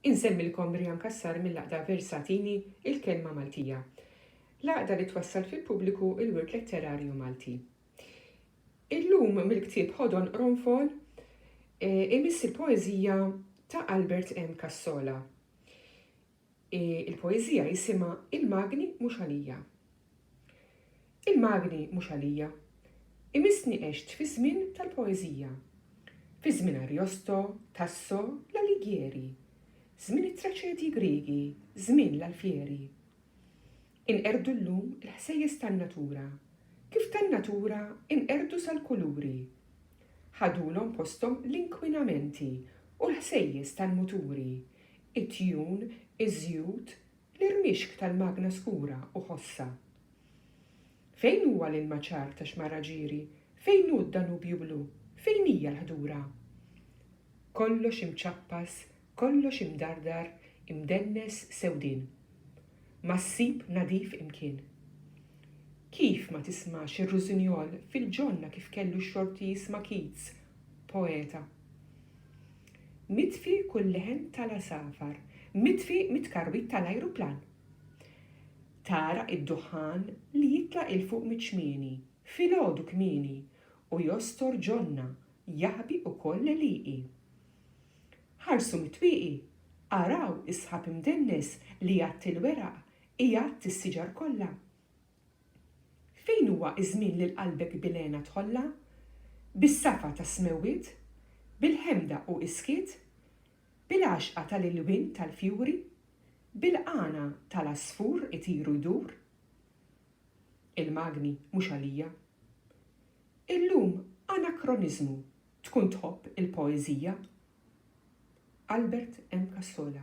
Insemmilkom Brian Cassar mill-Għaqda Versatini, Il-Kelma Maltija, l-għaqda li twassal fil-pubbliku l-wirt letterarju Malti. Illum mill-ktieb Ħodon Qronfol eh, imiss il-poeżija ta' Albert M. Cassola. Il-poeżija jisimha Il-magni mhux għalija Il-magni mhux għalija Imissni għext fiż-żmien tal-poeżija Fi żmien Ariosto, Tasso, l-Alighieri Żmien it-traċedji Griegi, żmien l-Alfieri Inqerdu llum il-ħsejjes tan-natura Kif tan-natura inqerdu sal-kuluri Ħadulhom posthom l-inkwinamenti U l-ħsejjes tal-muturi it-tjun, iż-żjut, l-irmixk tal-magna skura u ħossha. Fejn huwa l-ilmaċar ta' Xmara Ġiri, fejn hu d-Danubju Blu, fejn hija l-ħdura? Kollox imċappas, kollox imdardar, imdennes sewdien. ma ssib nadif imkien. Kif ma tismax ir-rużinjol fil-ġonna kif kellu xorti jisma' Keats, poeta. Mitfi kull leħen tal-għasafar, mitfi mit-tkarwit tal-ajruplan. Tagħraq id-duħħan li jitla' 'il fuq miċ-ċmieni, filgħodu kmieni, u jostor ġonna, jaħbi ukoll l-għelieqi. Ħarsu mit-twieqi, araw is-sħab imdennes li jgħatti l-weraq, igħadd is-siġar kollha. Fejn huwa ż-żmien li l-qalbek bil-hena tħollha? Bis-safa tas-smewwiet? Bil-ħemda u iskiet? Bil-għaxqa tal-ilwien tal-fjuri? Bil-qanagħa tal-għasfur itir u jdur? Il-magni mhux għalija. Illum anakroniżmu Tkun tħobb il-poeżija? Albert M. Cassola.